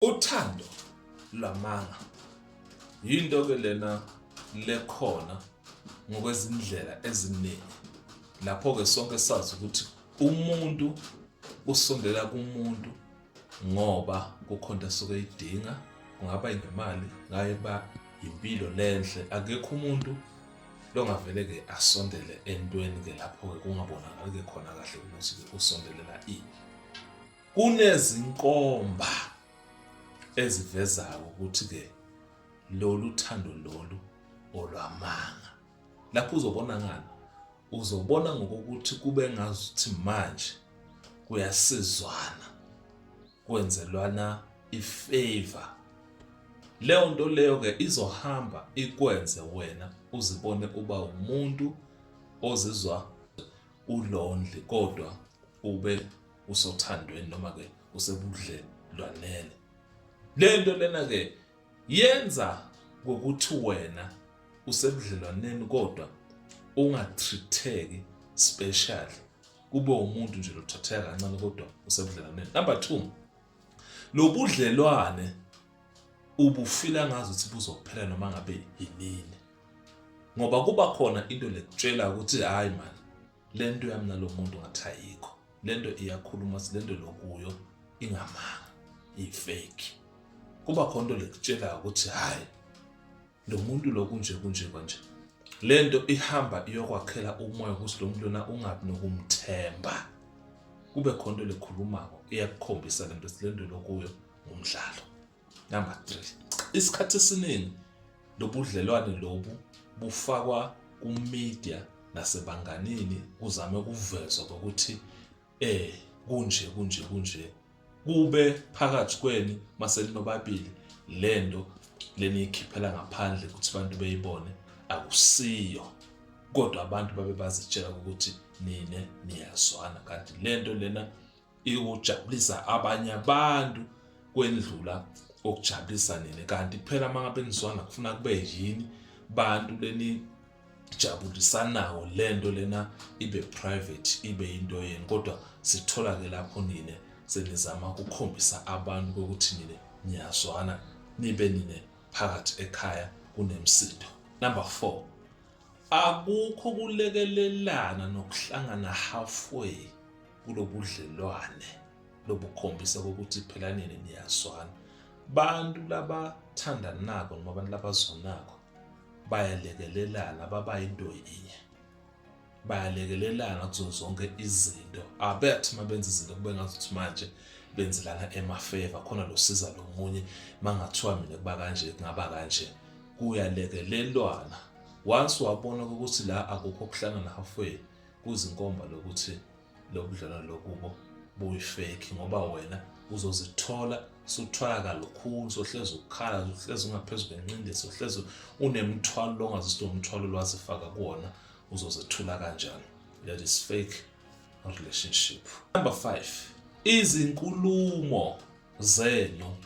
Uthando lwamanga yinto ke lena lekhona ngokwezindlela eziningi lapho ke sonke sazi ukuthi umuntu usondela kumuntu ngoba kukhona asuke idinga kungaba ngemali ngaye ba impilo lenhle akekho umuntu longavele ke asondele entweni ke lapho ke kungabonakali ke khona kahle ukuthi usombelelaa ini. Kunezinkomba ezivezayo ukuthi ke lolu thando lolu olwamanga. Lapho uzobona ngani? Uzobona ngokuthi kube ngazuthi manje kuyasizwana kwenzelwana ifavor leyo nto leyo ke izohamba ikwenze wena uzibone uba umuntu ozizwa ulonely kodwa ube usothandweni noma ke usebudlelwaneni lento lena ke yenza ngokuthi wena usebudlelwaneni kodwa ungatritheki special kube umuntu nje lothatheka kancane kodwa usebudlelwaneni number 2 lobudlelwane ubufila ngazi ukuthi buzophela noma ngabe yinini ngoba kuba khona into lekutshela ukuthi hayi mani le nto yami nalo muntu ngathi ayikho le nto iyakhuluma si le nto lokuyo ingamanga ifeki kuba khona into lekutshelayo ukuthi hhayi lo muntu lo kunje kunje kwanje le nto ihamba iyokwakhela umoya ukuthi lo muntu lona ungabi nokumthemba kube khona into lekhulumako iyakukhombisa le nto silendelo kuyo ngumdlalo Number 3. Isikhathi esiningi lobudlelwane lobu bufakwa kumedia nasebanganini kuzame ukuvezwa ukuthi eh kunje kunje kunje kube phakathi kweni maselinobabili lento leniyikhiphela ngaphandle ukuthi abantu beyibone akusiyo kodwa abantu babe bazitshela ukuthi nine niyazwana kanti lento lena ikujabulisa abanye abantu kwendlula okujabulisa nini kanti phela uma ngabe nizwana kufuna kube yini bantu leni jabulisanawo lento lena ibe private ibe into yenu kodwa sithola ke lapho nine senizama ukukhombisa abantu ukuthi nine niyazwana nibe nine phakathi ekhaya kunemsindo number 4 akukho kulekelelana nokuhlangana halfway kulobudlelwane lobukhombisa ukuthi phela nini niyazwana bantu labathandanako noma abantu labazwanako bayalekelelana baba into yinye bayalekelelana kuzo zonke izinto abethi uma benza izinto kube ngazuthi manje benzelana emafeva khona losiza lo munye uma ngathiwa mina kuba kanje kungaba kanje kuyalekelelwana once wabona ukuthi la akukho kuhlangana halfway kuzinkomba lokuthi lobudlelwano lokubo buyifeki ngoba wena uzozithola suthwalaka lukhulu sohlezi ukukhala sohlezi ungaphezu kwenqindi sohlezi unemthwalo longazisi nomthwalo lwazifaka kuwona uzozethula kanjani that is fake relationship number 5 izinkulumo zenu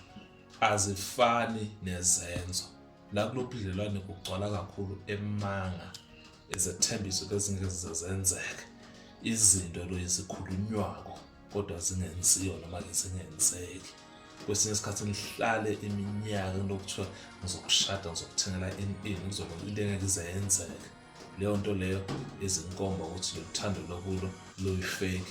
azifani nezenzo la kulobudlelwane kugcwala kakhulu emanga izethembiso bezingeke zize zenzeke izinto lo ezikhulunywako kodwa zingenziwa noma-ke zingenzeki kwesinye isikhathi nihlale iminyaka lokuthiwa ngizokushada ngizokuthengela ini ini ngizokwenza into engeke ize yenzeke leyo nto leyo izinkomba ukuthi loluthando lokulo luyifeki